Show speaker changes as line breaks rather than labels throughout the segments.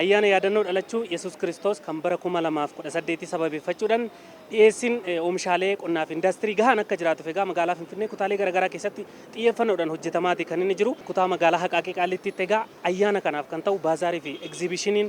Ayyaana Yaadannoo Dhalachuu Yesuus Kiristoos kan bara 2018 sababeeffachuudhaan dhiyeessiin oomishaalee qonnaa fi indaastirii gahaan akka jiraatuuf egaa magaalaa Finfinnee kutaalee garaagaraa keessatti xiyyeeffannoodhaan hojjetamaati kan inni jiru. Kutaa magaalaa Haqaaqii Qaallittiitti egaa ayyaana kanaaf kan ta'u baazaarii fi egziibishiniin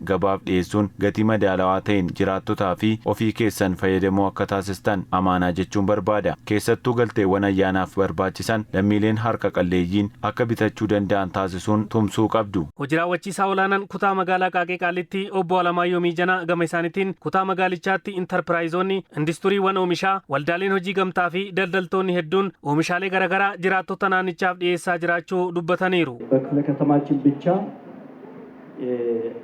gabaaf dhiyeessuun gatii madaalawaa ta'een jiraattotaa fi ofii keessan fayyadamoo akka taasistan amaanaa jechuun barbaada. Keessattuu galteewwan ayyaanaaf barbaachisan lammiileen harka qalleeyyiin akka bitachuu danda'an taasisuun tumsuu qabdu. Hoji Raawwachiisaa Olaanaan
Kutaa Magaalaa Qaaqee Qaallittii Obbo Alamaayyoo Miijanaa gama isaanitiin, kutaa magaalichaatti Intarpiraayizoonni, Industuriiwwan Oomishaa, Waldaaleen Hojii Gamtaa fi daldaltoonni hedduun oomishaalee garaagaraa jiraattota naannichaaf dhiyeessaa jiraachuu dubbataniiru. በክፍለ ከተማችን
ብቻ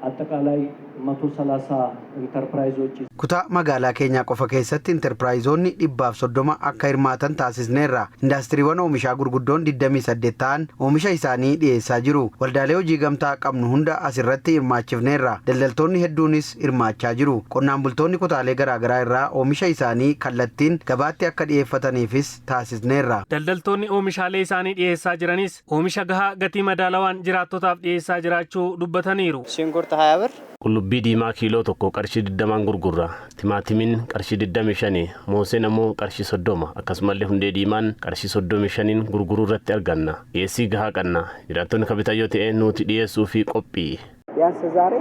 Attaqqaalaay 130 Interpiraayizochi. Kutaa magaalaa
keenyaa qofa keessatti Interpiraayizoonni 130 akka hirmaatan taasisneerra. Indaastiriiwwan oomishaa gurguddoon 28 ta'an oomisha isaanii dhiyeessaa jiru. Waldaalee hojii gamtaa qabnu hunda as irratti hirmaachifneerra. Daldaltoonni hedduunis hirmaachaa jiru. Qonnaan bultoonni kutaalee garaagaraa irraa oomisha isaanii kallattiin gabaatti akka dhiyeeffataniifis taasisneerra. Daldaltoonni
oomishaalee isaanii dhiyeessaa jiranis Ameerikaa oomisha gahaa gatii madaalawaan jiraattotaaf dhiyeessaa jiraachuu dubbataniiru. Shinkurt 20 birr.
Qullubbii diimaa kiiloo
tokko qarshii 20n gurgurra. Timaatimiin qarshii 25, mooseen ammoo qarshii 30, akkasumallee hundee diimaan qarshii 35n gurguruu irratti arganna. Dhiyeessii gahaa qanna. Jiraattonni ka bitan yoo ta'e nuuti dhiyeessuufii qophii. Biyaansi zaare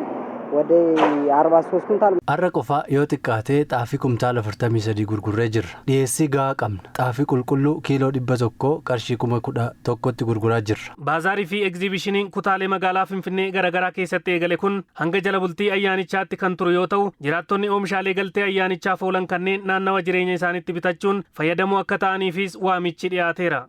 wade 43 kuntaal. Har'a qofa yoo
xiqqaate xaafii kumtaala 43 gurgurree jirra. Dhiyeessii gahaa qabna. Xaafii qulqulluu kiiloo 100 qarshii 11,000tti gurguraa jirra. Baazaarii fi Egziibishiniin
kutaalee magaalaa Finfinnee garaagaraa keessatti eegale kun hanga jala bultii ayyaanichaatti kan turu yoo ta'u, jiraattonni oomishaalee galtee ayyaanichaaf oolan kanneen naannawa jireenya isaaniitti bitachuun fayyadamoo akka ta'aniifiis waamichi dhiyaateera.